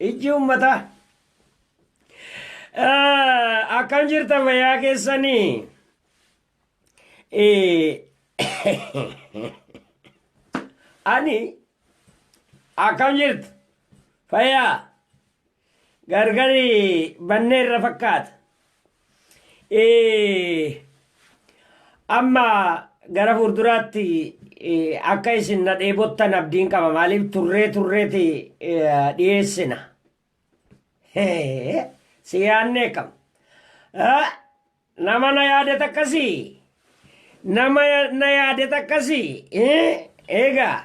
Ijji ummataa. Akkam jirtan fayyaa keessanii? Ani akkam jirtu? Fayyaa gargari bannee irra fakkaata. Amma gara fuulduraatti akka isin na dheebottan abdiin qaba maaliif turree turreeti dhiyeessina. Si yaannee kam? Nama na yaadet akkasii? Nama na yaadet akkasii? Egaa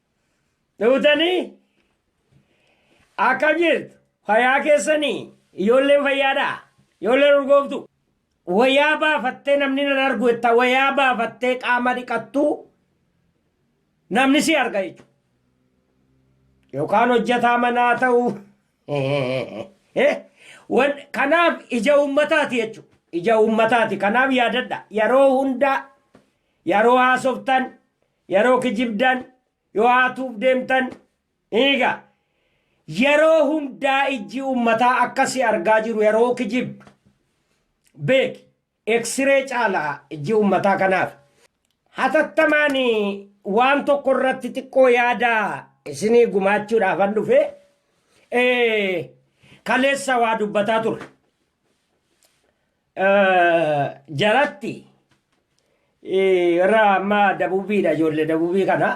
Dhutanii akkam jirtu fayyaa keessanii ijoolleen fayyaadhaa ijoolleen urgooftu wayaa baafattee namni nan argu jetta wayaa baafattee qaama dhiqattu namni si arga jechuudha. Yookaan hojjetaa manaa ta'uu kanaaf ija uummataati jechuudha. Ija uummataati kanaaf yaadadha yeroo hundaa yeroo haasoftan Yeroo kijibdan, yoo haatuuf deemtan, eega. Yeroo hundaa ijji ummataa akka si argaa jiru yeroo kijibdu. Beeki. Eksiree caala ijji ummataa kanaaf. Hatattamaan waan tokko irratti xiqqoo yaada isinii gumaachuudhaafan dhufe. Kaleessa waa dubbataa ture. jalatti irra amma dabubiidha ijoollee dabubii kana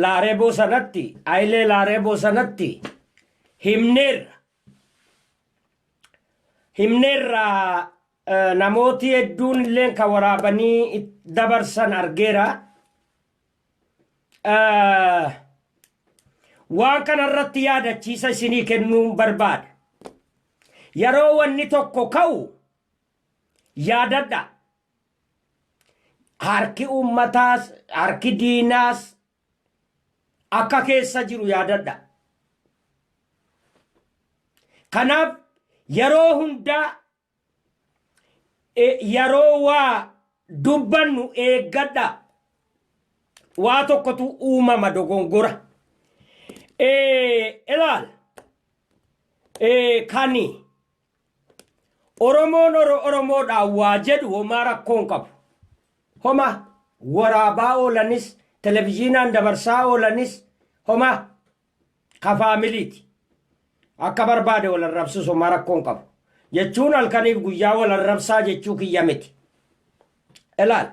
laareeboo sanatti ayilee laareeboo sanatti himneerra himneerra namooti hedduun illee kan waraabanii dabarsan argeera Waan kana irratti yaadachiisa isinii kennuun barbaada. Yeroo wanni tokko ka'u yaadadha. Harki uummataas, harki diinaas akka keessa jiru yaadadha. Kanaaf yeroo hundaa Yeroo waa dubbannu eeggadhaa. Waa tokkotu uumama dogongora. Ilaal kan Oromoon Oromoodhaa waa jedhu homaa rakkoo hin qabu. Homaa waraabaa oolanis, televizyiinaan dabarsaa oolanis homaa. ka faamiliiti akka barbaade wal arrabsu somaa rakkoon qabu jechuun halkaniif guyyaa wal arrabsaa jechuu kiyya miti ilaal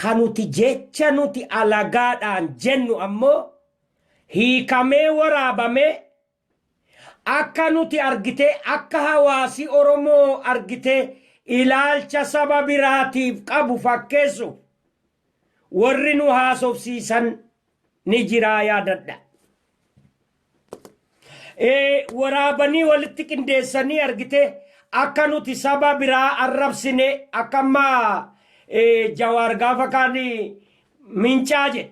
ka nuti jecha nuti alagaadhaan jennu ammoo hiikamee waraabamee Akka nuti argitee akka hawaasi Oromoo argitee ilaalcha saba biraatiif qabu fakkeessuuf warri nu haasofsiisan ni jiraa yaadadha. Waraabanii walitti qindeessanii argitee akka nuti saba biraa arrabsine akka amma Jawaar gaafa kaan mincaa jedhe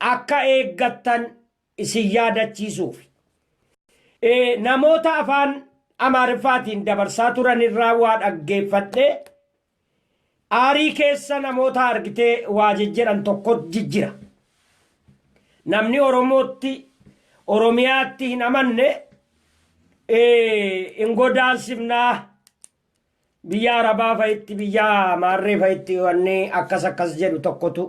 akka eeggattan isin yaadachiisuufi. Namoota afaan Amaariffaatiin dabarsaa turanirraa waa dhaggeeffadhee, aarii keessa namoota argitee waa jijjiran tokkot jijjira. Namni Oromootti, Oromiyaatti hin amanne hin godaansifnaa. Biyya Arabaa fa'itti biyya Maarree fa'itti wanni akkas akkas jedhu tokkotu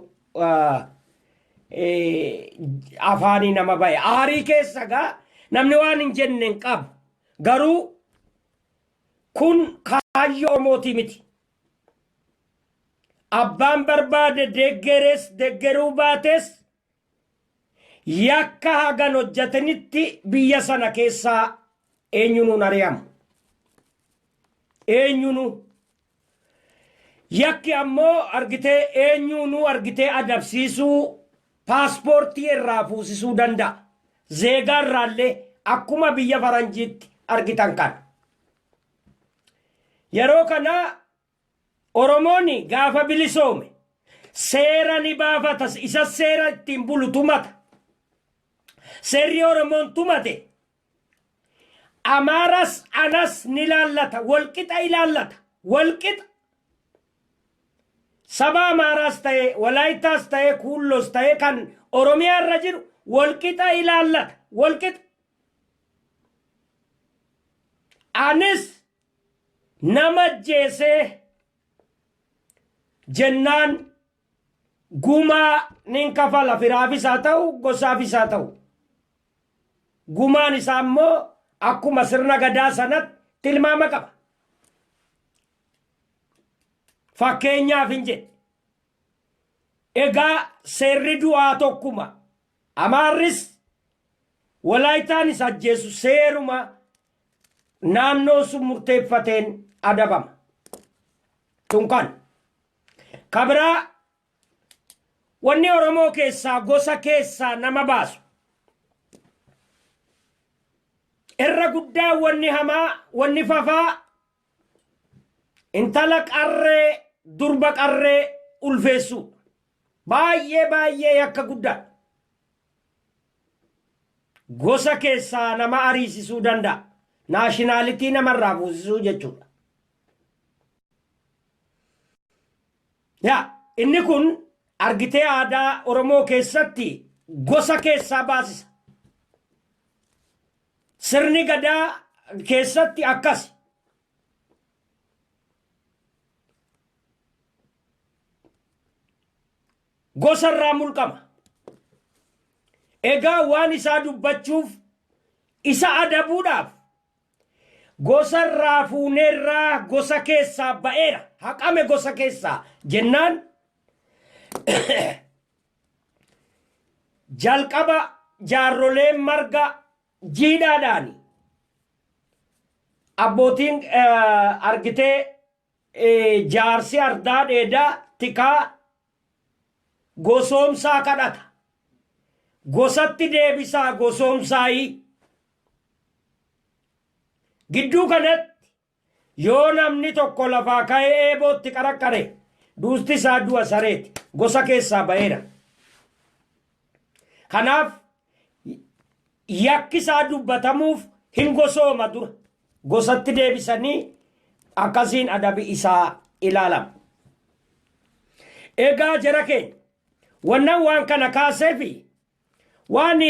afaanii nama ba'e. Aarii keessa gaa namni waan hin jenne hin qabu. Garuu kun kaayyoo Oromootii miti. Abbaan barbaade deggerees deggeruu baatees Yakka hagan hojjatanitti biyya sana keessaa eenyunuu hin ari'amu. Eenyunuu. Yakki ammoo argitee eenyuunuu argitee adabsiisuu paaspoortii irraa fuusisuu danda'a. Zeegaa irraallee akkuma biyya faranjiitti argitan kana. Yeroo kana Oromoon gaafa bilisoome seera ni baafata isas seera ittiin bulu tumata. Seerri Oromoon tumate Amaaras anas ni laallata walqixa ilaallata walqixa. Saba Amaaraas ta'e Walaayittaas ta'e Kuulloos ta'e kan Oromiyaa irra jiru walqixa ilaallata walqixa. Anis Nama ajjeesee jennaan gumaa nin kafala firaafis haa ta'u gosaafis haa ta'u. Gumaan isaa immoo akkuma sirna gadaa sanatti tilmaama qaba. Fakkeenyaaf hin jedhe. Egaa seerri du'aa tokkuma. Amaarris Walaayitaanis ajjeesu seeruma naannoon sun murteeffateen adabama. Tun kan. Ka biraa wanni Oromoo keessaa gosa keessaa nama baasu. Irra guddaa wanni hamaa, wanni fafaa intala qarree, durba qarree ulfeessuu. Baay'ee baay'ee yakka guddaa. Gosa keessaa nama ariisisuu danda'a. Naashinaalitii nama irraa fuusisuu jechuudha. Yaa inni kun argitee aadaa Oromoo keessatti gosa keessaa baasisa. Sirni gadaa keessatti akkasi. Gosa irraa mulqama. Egaa waan isaa dubbachuuf isa adabuudhaaf gosa irraa fuuneerraa gosa keessaa ba'eera haqame gosa keessaa jennaan jalqaba jaarroleen marga jiidhaadhaani abbootiin eh, argitee Jaarsi ardaa dheedaa tikaa gosoomsaa kadhata. Gosatti deebisaa gosoomsaayii. Gidduu kanatti yoo namni tokko lafaa ka'ee eebootti qaraqqare duusti isaa du'a sareeti. Gosa keessaa ba'eera. Kanaaf yakki isaa dubbatamuuf hin gosooma dura gosatti deebisanii akkasiin adabi isaa ilaalama. Egaa jara keenya wannan waan kana kaasee fi waan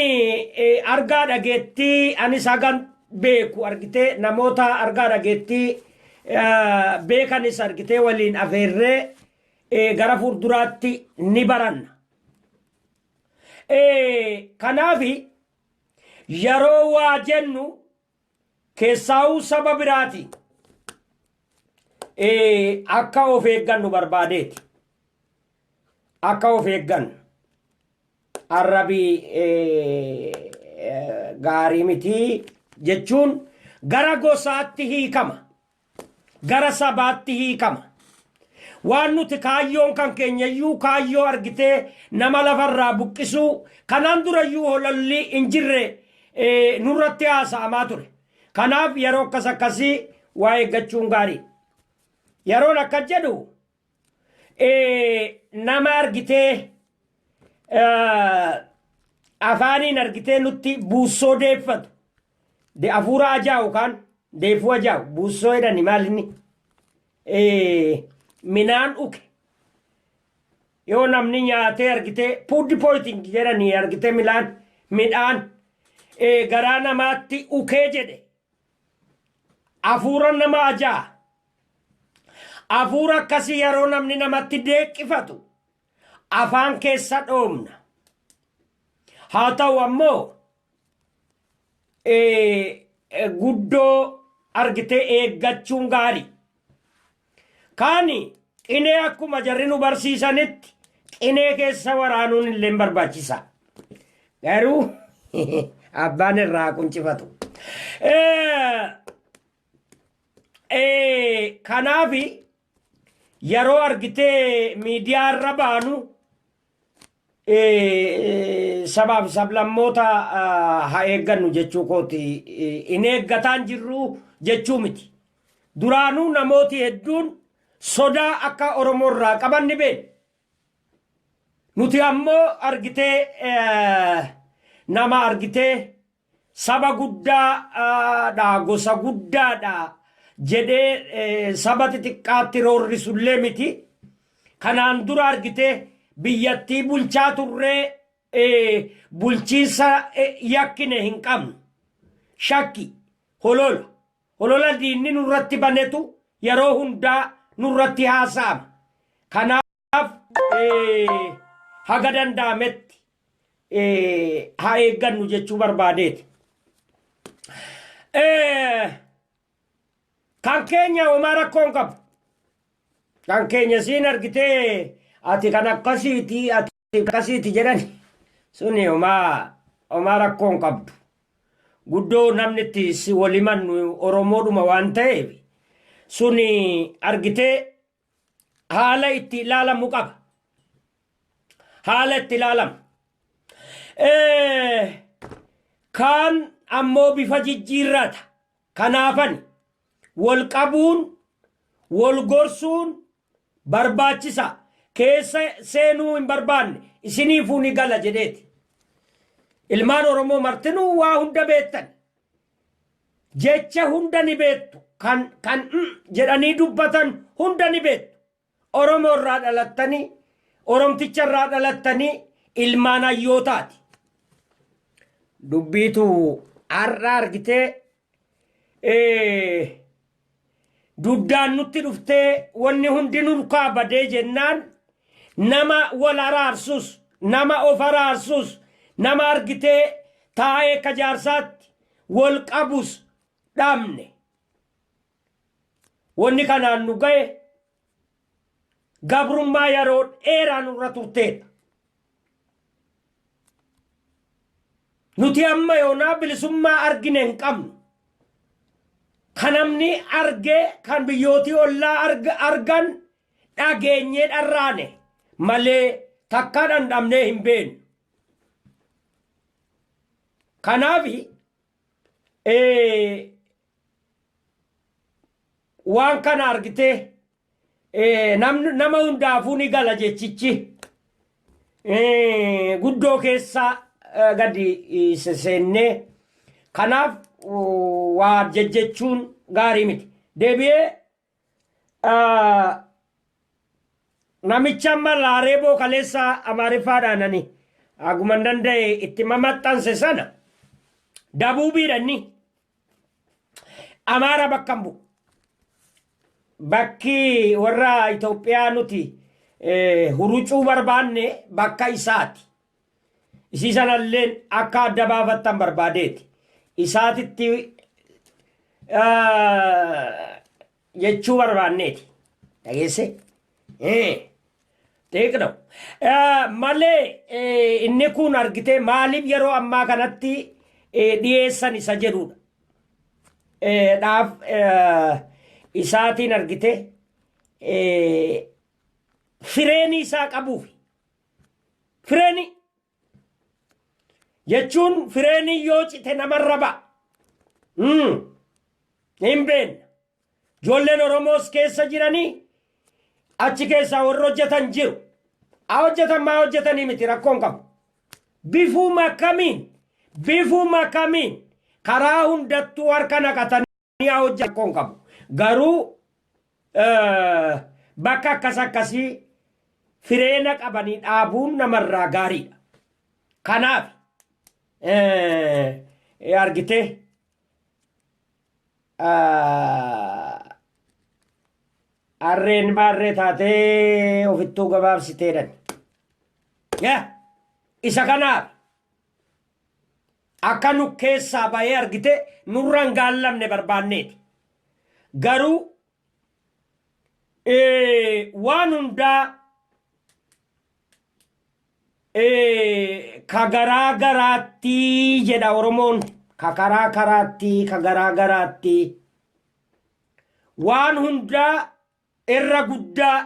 argaa dhageettii anis hagan beeku argitee namoota argaa dhageettii beekanis argitee waliin afeerree gara fuulduraatti ni baranna. Kanaaf yeroo waa jennu keessaa'uu saba biraati akka of eeggannu barbaadeeti. Akka of eeggannu arrabi gaarii miti jechuun gara gosaatti hiikama. gara sabaatti hiikama. Waan nuti kaayyoon kan keenyayyuu kaayyoo argitee nama lafarraa buqqisuu kanaan durayyuu hololli hin jirre eh, nurratti haasa'amaa ture. Kanaaf yeroo akkas akkasii waa eeggachuun gaarii. Yeroon akkas jedhu nama argitee afaaniin argitee nutti buussoo deeffatu de afuura ajaa'u kaan deeffuu ajaa'u buussoo jedhani maalinni minaan uke yoo namni nyaatee argitee puuddi pooyiting jedhani argitee milaan midhaan garaa namaatti ukee jedhe afuura nama ajaa Afuura akkasii yeroo namni namatti deeqqifatu afaan keessa dhoomna. Haa ta'u ammoo guddoo argitee eeggachuun gaari. Kaani qinee akkuma jarri nu barsiisanitti qinee keessa waraanuun illee barbaachisa. Garuu abbaan irraa quncifatu. Eh, kanaaf yeroo argitee miidiyaa irra baanu eh, sabaaf sablammoota ah, haa eeggannu jechuu kooti Eh, hin eeggataan jirru jechuu miti duraanuu namooti hedduun sodaa akka oromoo irraa qaban ni beekna nuti ammoo argitee eh, nama argitee Saba guddaa dha, gosa guddaa dha jedhee saba xixiqqaatti roorrisu illee miti. Kanaan dura argitee biyyattii bulchaa turree bulchiinsa yakkine hin qabnu. Shakki, holola. Holola diinni nurratti banetu yeroo hundaa nurratti haasa'ama. Kanaa. Kanaaf haga danda'ametti haa eeggannu jechuu barbaadeeti. Kan keenya homaa rakkoo hin qabu. Kan keenya siin argitee ati kan akkasiiti ati akkasiiti jedhani suni homaa homaa rakkoo hin qabdu. Guddoo namni itti si walimannu Oromoodhuma waan ta'eef suni argitee haala itti ilaalamu qaba. Haala itti ilaalamu. Eh, Kaan ammoo bifa jijjiirraata. Kanaafan wal qabuun wal gorsuun barbaachisa. Keessa seenuu hin barbaanne isiniifuu ni gala jedheeti. Ilmaan Oromoo martinuu waa hunda beektan. Jecha hunda ni beektu. Kan, kan, mm, jedhanii dubbatan hunda ni beektu. Oromoo irraa dhalattanii, Oromticha irraa dhalattanii ilmaan hayyootaati. Dubbiitu har'a argitee ee, Duddaan nutti dhuftee wanni hundi nurkaa badee jennaan nama wal araarsus, nama of araarsus, nama argitee taa'ee akka jaarsaatti wal qabus dhabne. Wanni kanaan nu gahe gabrummaa yeroo dheeraa nurra turteedha. Nuti amma yoonaa bilisummaa argine hin qabnu. Kan namni argee kan biyyootii ollaa arg- argan dhageenyee dharraane malee takkaa dhandhamnee hin beeknu. Kanaaf waan kana argitee eh, namni- nama hundaafuu ni gala jechichi Eh, guddoo keessaa eh, gadi eh, se- seennee kanaaf uh, waa jejjechuun gaarii miti deebi'ee Ah, namicha amma laareeboo kaleessa amaariffaadhaan ani haguman danda'e itti mamaxxanse sana dabuubiidha inni amaara bakka hin bu'u bakki warra Itoophiyaa nuti eh, hurucuu barbaanne bakka isaati Isii sanalleen akka adda baafattan barbaadeeti. Isaatitti jechuu barbaanneeti. Dhageesse? Xiiqna. Malee inni kun argitee maaliif yeroo ammaa kanatti dhiyeessan isa jedhudha. Dhaaf isaatiin argitee fireenii isaa qabuufi. Fireenii jechuun fireenii yoo cite namarra ba'a. Mm. Hin beekna. Ijoolleen Oromoos keessa jiranii achi keessaa warri hojjetan jiru. Haa hojjetan maa hojjetanii miti rakkoon qabu. Bifuuma akkamiin bifuuma akkamiin karaa hundattuu harka naqatanii. Yaa hojja rakkoo hin qabu. Garuu eh, bakka akkas akkasii fireena qabanii dhaabuun namarraa gaariidha. Kanaaf eh, eh, argitee ah, harreen maarree taatee ofittuu gabaabsiteedhan. Yaa isa kanaaf Akka nu keessaa ba'ee argite nurra hin gaallamne barbaanneeti. Garuu waan hundaa ka garaa garaatti jedha Oromoon ka karaa karaatti ka garaa garaatti waan hundaa irra guddaa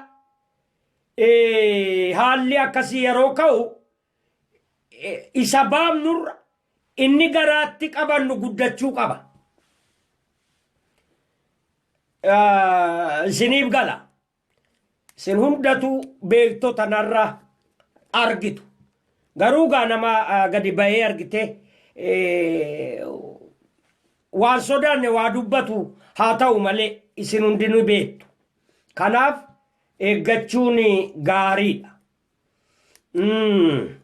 haalli akkasii yeroo ka'u isa baafnurra inni garaatti qabannu guddachuu qaba. Isiniif gala. Isin hundatu beektota narra argitu. Garuu gaa nama gadi bahee argite waan sodaanne waa dubbatu haa ta'u malee isin hundinuu beektu. Kanaaf eeggachuun gaariidha. Mm.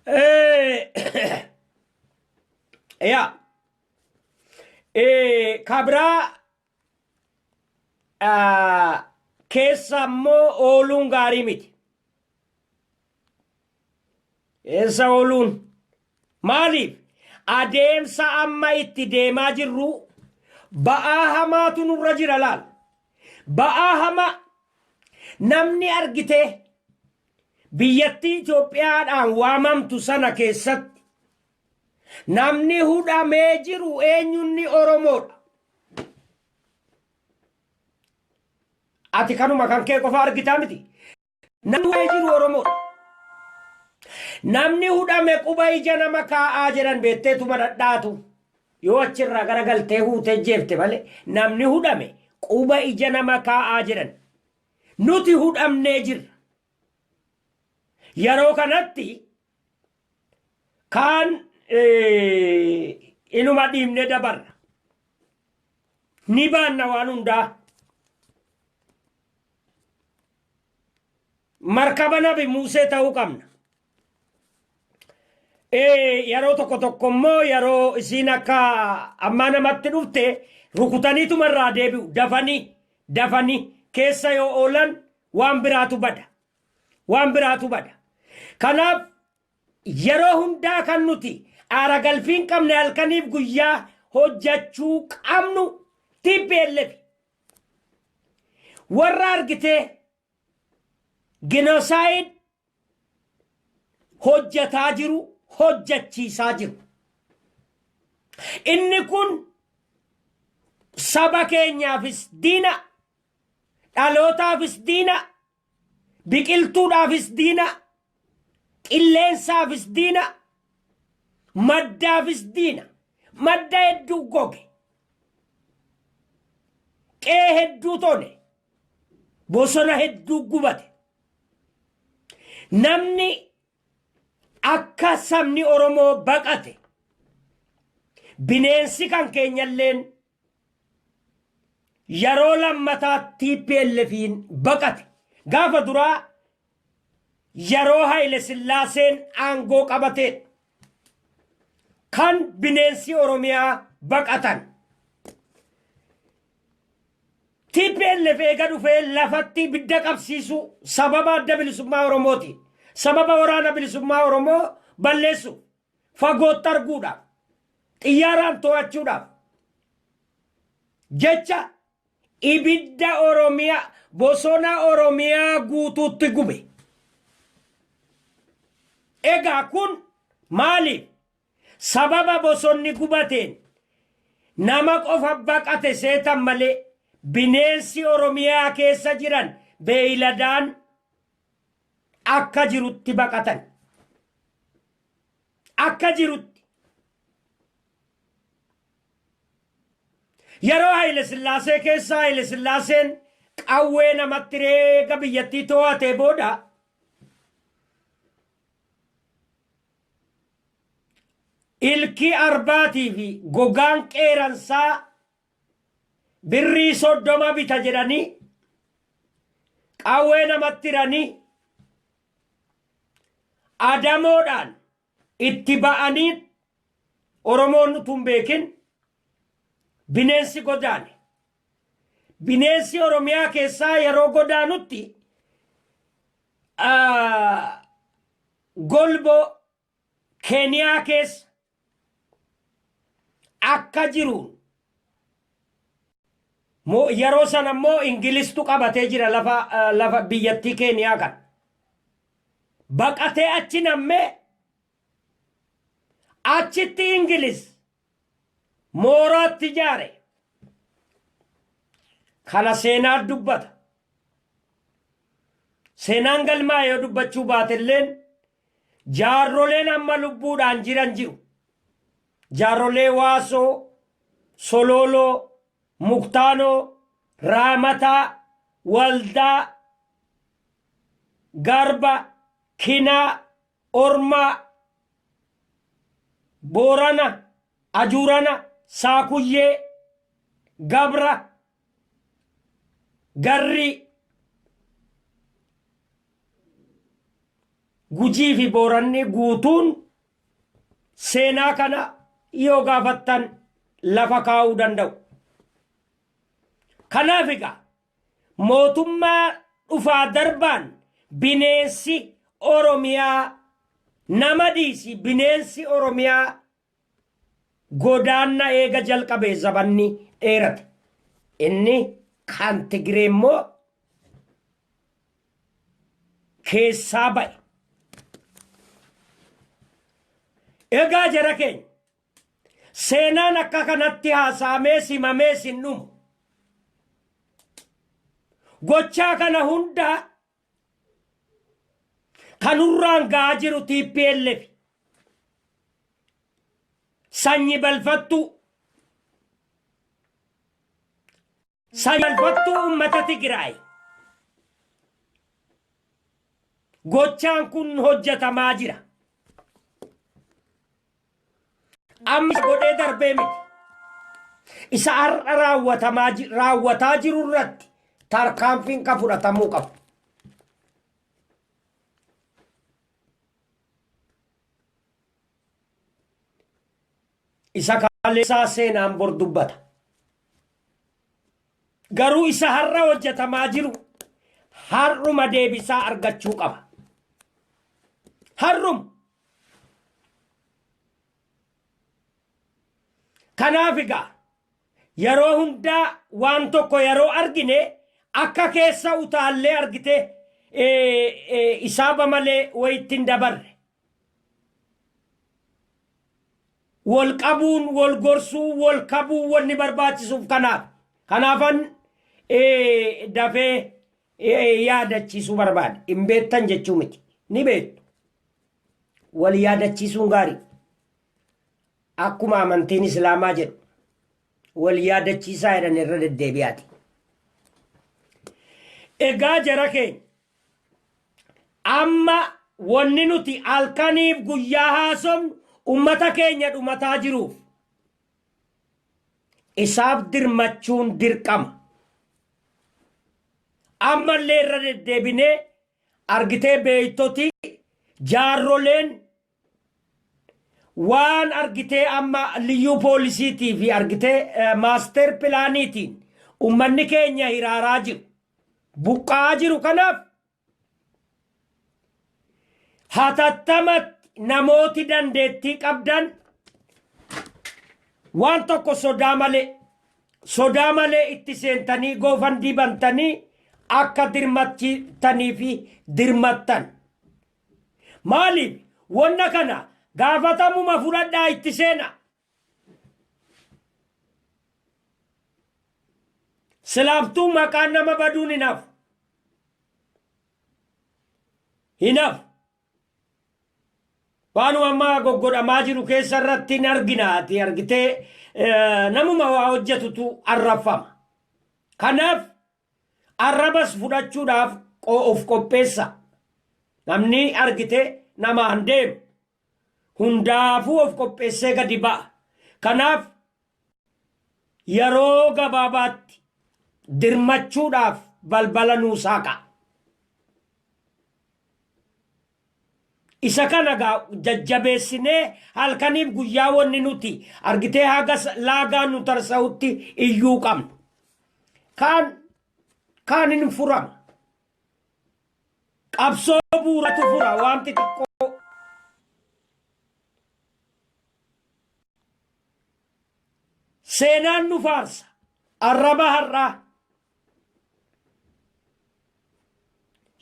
Eh, yeah. Eh, kabraa ah, keessa immoo ooluun gaarii miti. Keessa ooluun Maaliif? Adeemsa amma itti deemaa jirru ba'aa hamaatu nurra jira laal. Ba'aa hamaa namni argitee biyyattii Itoophiyaadhaan waamamtu sana keessatti namni hudhamee jiru eenyunni Oromoodha. Ati kanuma kan kee qofa argitaa miti. Namni waa'ee jiru Oromoodha. Namni hudhame quba ija nama kaa'aa jedhan beetteetuma dhadhaatu. Yoo achirraa gara galtee huutee jeefte malee namni hudhame quba ija nama kaa'aa jedhan. Nuti hudhamnee jirra. Yeroo kanatti kaan inuma dhiibnee dabarra. Ni baanna waan hundaa. Markaba nabi Muusee ta'uu qabna. Yeroo tokko tokko immoo yeroo isiin akka ammaa namatti dhufte rukutaniituma irraa deebi'u dafanii dafanii keessa yoo oolan waan biraatu bada. Waan biraatu bada. Kanaaf yeroo hundaa kan nuti aara galfiin qabne halkaniif guyyaa hojjachuu qabnu TPLF. Warra argitee genocide hojjataa jiru hojjachiisaa jiru. Inni kun saba keenyaafis diina, dhalootaafis diina, Biqiltuudhaafis diina, qilleensaafis diina, maddaafis diina. Madda hedduu goge. Qe'ee hedduu tone. Bosona hedduu gubate. Namni akka sabni Oromoo baqate. Bineensi kan keenyalleen Yeroo lammataa TPLFiin baqate. Gaafa duraa yeroo Hayile Sillaaseen aangoo qabateedha. Kan bineensi Oromiyaa baqatan. TPLF eega dhufee lafatti ibidda qabsiisu sababa adda bilisummaa Oromooti. Sababa waraana bilisummaa Oromoo balleessu. fagootti arguudhaaf xiyyaaraan to'achuudhaaf jecha ibidda Oromiyaa bosona Oromiyaa guutuutti gube. Egaa kun maaliif sababa bosonni gubateen nama qofa baqate seetan malee bineensi Oromiyaa keessa jiran beeyladaan Akka jirutti baqatan. Akka jirutti. Yeroo Hayile Sillaasee keessa Hayile Sillaaseen qawwee namatti reega biyyattii too'atee booda ilkii arbaatii fi gogaan qeeransaa birrii soddoma bita jedhanii qawwee namatti hiranii adamoodhaan itti ba'anii oromoon utuu hin beekin bineensi godaane bineensi oromiyaa keessaa yeroo godaanutti ah, golboo Keeniyaa keessa akka jiru yeroo sana immoo Ingilistu qabatee jira lafa biyyattii Keeniyaa kan baqatee achi nammee achitti Ingilis mooraatti ijaare kana seenaa dubbata. Seenaan galmaa yoo dubbachuu baatelleen Jaarroleen amma lubbuudhaan jiran jiru. Jaarrolee Waasoo, Solooloo, Muktaanoo, Raamataa, Waldaa, Garba, Kinaa, Ormaa, Boorana, Ajuurana, Saakuyyee, Gabra, garri Gujii fi Booranni guutuun seenaa kana yoo gaafattan lafa kaa'uu danda'u. Kanaaf egaa mootummaa dhufaa darbaan bineensi Oromiyaa nama dhiisi bineensi Oromiyaa Godaanna eega jalqabe zabanni dheerate. Inni kan Tigiree immoo keessaa ba'e. Egaa jara keenya seenaan akka kanatti haasa'amees himamees hin dhumu. Gochaa kana hunda Kanurraan ga'aa jiru TPLF sanyi balfattuu sanyi balfattuu uummata Tigraay gochaan kun hojjetamaa jira. Amma isa godhee darbee miti. Isa har'a raawwatamaa ji- raawwataa jiru irratti tarkaanfiin kan fudhatamuu qabu. Isa kaleessaa seenaan bor dubbata. Garuu isa har'a hojjetamaa jiru har'uma deebisaa argachuu qaba. Har'uma Kanaaf egaa yeroo hundaa waan tokko yeroo argine akka keessa utaallee argite isaaba malee wayitti hin dabarre. Wal qabuun, wal gorsuun, wal kabuun wanni barbaachisuuf kanaaf. Kanaafan dafee yaadachiisuu barbaade. Hin beektan jechuu miti. Ni beektu. Wal yaadachiisuun gaarii. Akkuma amantiin Islaamaa jedhu wal yaadachiisaa jedhan irra deddeebi'aati. Egaa jara keenya amma wanni nuti halkaniif guyyaa haasofnu ummata keenya dhumataa jiruuf Isaaf dirmachuun dirqama. Ammallee irra deddeebinee argitee beektoti jaarroleen waan argitee amma liyyuu poolisiitii fi argitee maaster pilaaniitiin ummanni keenya hiraaraa jiru. Buqqa'aa jiru kanaaf Hatattamatti namooti dandeettii qabdan waan tokko sodaa malee sodaa malee itti seentanii goofandii bantanii akka dirmattanii fi dirmattan. Maaliif wanna kana gaafatamuma fudhadhaa itti seena. Silaaftuu maqaan nama baduun hin hafu. Hin hafu. Waanuma ammaa goggodhamaa jiru keessa irratti hin argina ati argitee eh, namuma waa hojjetutu arrabfama. Kanaaf arrabas fudhachuudhaaf qo- of qopheessa. Namni argite namaan deemu hundaafuu of qopheessee gadi ba'a. Kanaaf yeroo gabaabaatti dirmachuudhaaf balbala nuu saaqa. Isa kana gaa jajjabeessinee halkaniif guyyaa wanni nuti argitee haga sa- laagaa nu tarsa'utti iyyuu qabna. Kaan kaan hin furama. Qabsoo bu'uuratu fura waan xixiqqoo. Seenaan nu faarsa arraba har'aa.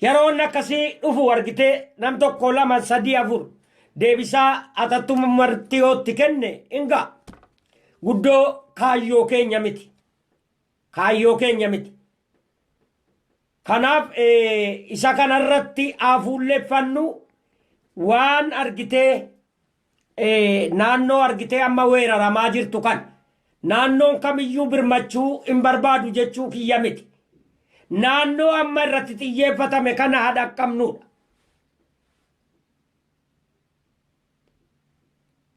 Yeroon akkasii dhufu argitee nam tokko lama sadii afur deebisaa atattuma martiyootti kenne hin ga'a. Guddoo kaayyoo keenya miti. kaayyoo keenya miti. Kanaaf isa kanarratti haa fuulleffannu waan argitee naannoo argitee amma weeraramaa jirtu kan naannoon kamiyyuu birmachuu hin barbaadu jechuu kiyya miti. Naannoo amma irratti xiyyeeffatame kana haa dhaqqabnudha.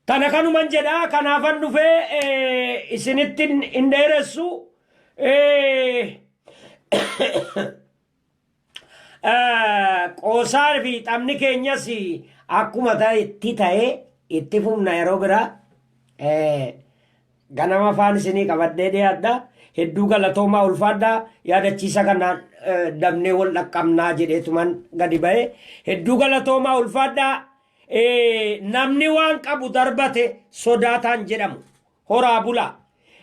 Kana kanuman jedha kanaafan dhufe isinittin hin dheeressu qoosaa fi taphni keenyas akkuma ta'etti ta'e itti fufna yeroo biraa ganama faan isinii qabadhee dhiyaadha hedduu galatoomaa ulfaadha yaadachiisa kanaan dabnee wal dhaqqabnaa jedheetuman gadi ba'e hedduu galatoomaa ulfaadha Ee, namni waan qabu darbate sodaataan jedhamu. Horaa bulaa.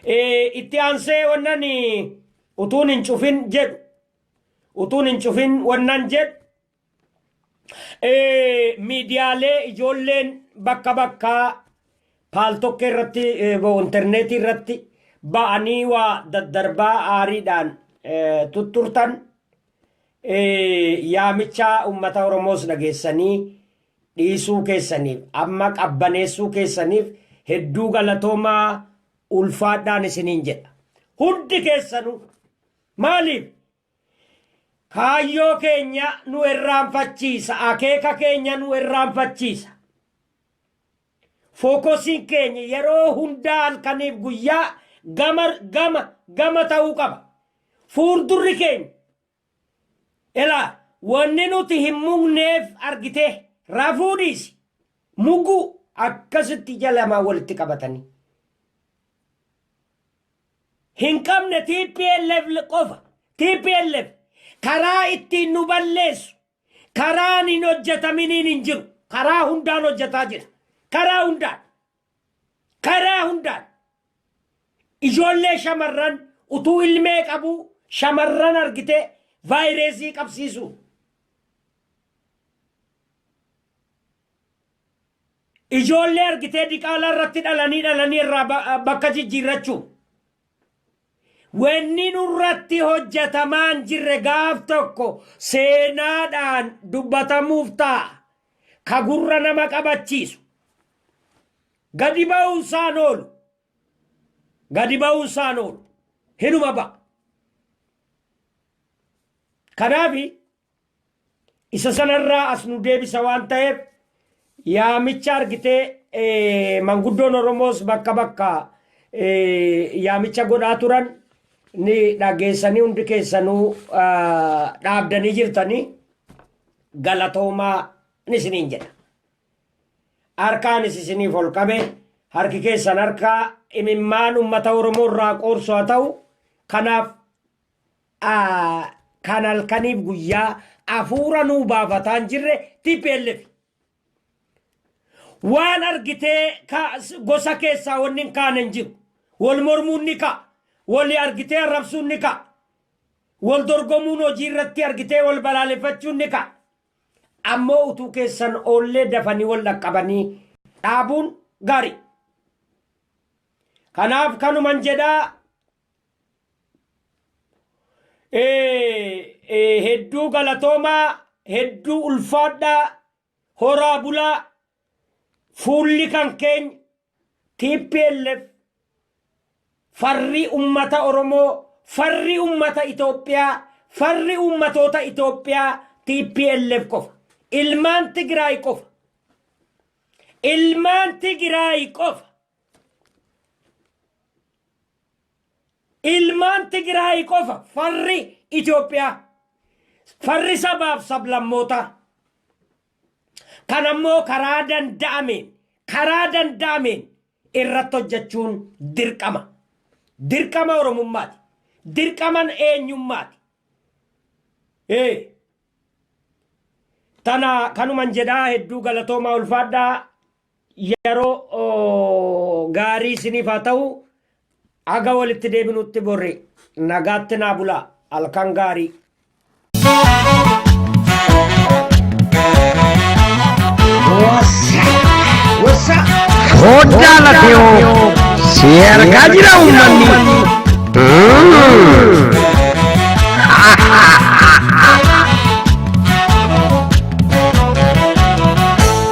Ee, itti aansee wannan eh, utuun hin cufin jedhu. Utuun hin cufin wannan jedhu. Ee, miidiyaalee ijoolleen bakka bakkaa paaltokkee irratti eh, bo- intarneetii irratti ba'anii waa daddarbaa aariidhaan eh, tutturtan Yaamicha ummata Oromoos dhageessanii dhiisuu keessaniif, amma qabbaneessuu keessaniif hedduu galatoomaa ulfaadhaan isiniin jedha. Hundi keessanuu. Maaliif? Kaayyoo keenya nu irraanfachiisa, akeeka keenya nu irraanfachiisa. Fookosiin keenya yeroo hundaa halkaniif guyyaa gama gama gama ta'uu qaba. Fuuldurri keenya Ilaa wanni nuti hin mugneef argitee rafuu dhiisi muguu akkasitti ija lamaa walitti qabatanii hin qabne tplf qofa tplf karaa ittiin nu balleessu Karaan hin hojjetaminiin hin jiru. Karaa hundaan hojjetaa jira. Karaa hundaan. Karaa hundaan. Ijoollee shamarran utuu ilmee qabuu shamarran argitee vaayireesii qabsiisuu. Ijoollee argitee diqaalaa irratti dhalanii dhalanii irraa ba- bakka jijjiirrachuu. Wanni nurratti hojjatamaa hin jirre gaaf tokko seenaadhaan dubbatamuuf taa'a. Ka gurra nama qabachiisu. Gadi ba'uun isaa hin oolu. Gadi ba'uun isaa hin oolu. Hinuma ba'a. Kanaaf Isa sana irraa as nu deebisa waan ta'eef yaamicha argitee eh, manguddoon Oromoos bakka bakka eh, yaamicha godhaa turan ni dhageessanii hundi keessanuu ah, dhaabdanii jirtanii galatoomaa ni isiniin jedha. Harkaanis isiniif ol qabe harki keessan harkaa imimmaan uummata Oromoo irraa qoorsu haa ta'u kanaaf kan halkaniif guyyaa afuura nuu baafataan jirre TPLF. Waan argitee gosa keessaa wanni hin kaane hin jiru. Wal mormuun ni ka'a. Wal argitee arrabsuun ni ka'a. Wal dorgomuun hojii irratti argitee wal balaaleffachuun ni ka'a. Ammoo utuu keessan oollee dafanii wal dhaqqabanii dhaabuun gaarii. Kanaaf kanuman jedhaa hedduu galatoomaa hedduu ulfaadhaa horaa bulaa fuulli kan keenya tplf farrii ummata oromoo farri ummata itoophiyaa farri ummatoota itoophiyaa tplf qofa ilmaan tigiraay qofa ilmaan tigiraay qofa Ilmaan Tigraay qofa farri Itoophiyaa, farri sabaaf sablammootaa. Kan ammoo karaa danda'ameen, karaa danda'ameen irratti hojjechuun dirqama. Dirqama Oromummaati. Dirqaman eenyummaati. Ee. Tana kanuman jedhaa hedduu galatoomaa ulfaadhaa Yeroo gaarii isiniif haa ta'u. Haga walitti deebinutti borri nagaatti naa bulaa. Halkan gaarii. Hoddaa lafeewoo si argaa jira uummanni.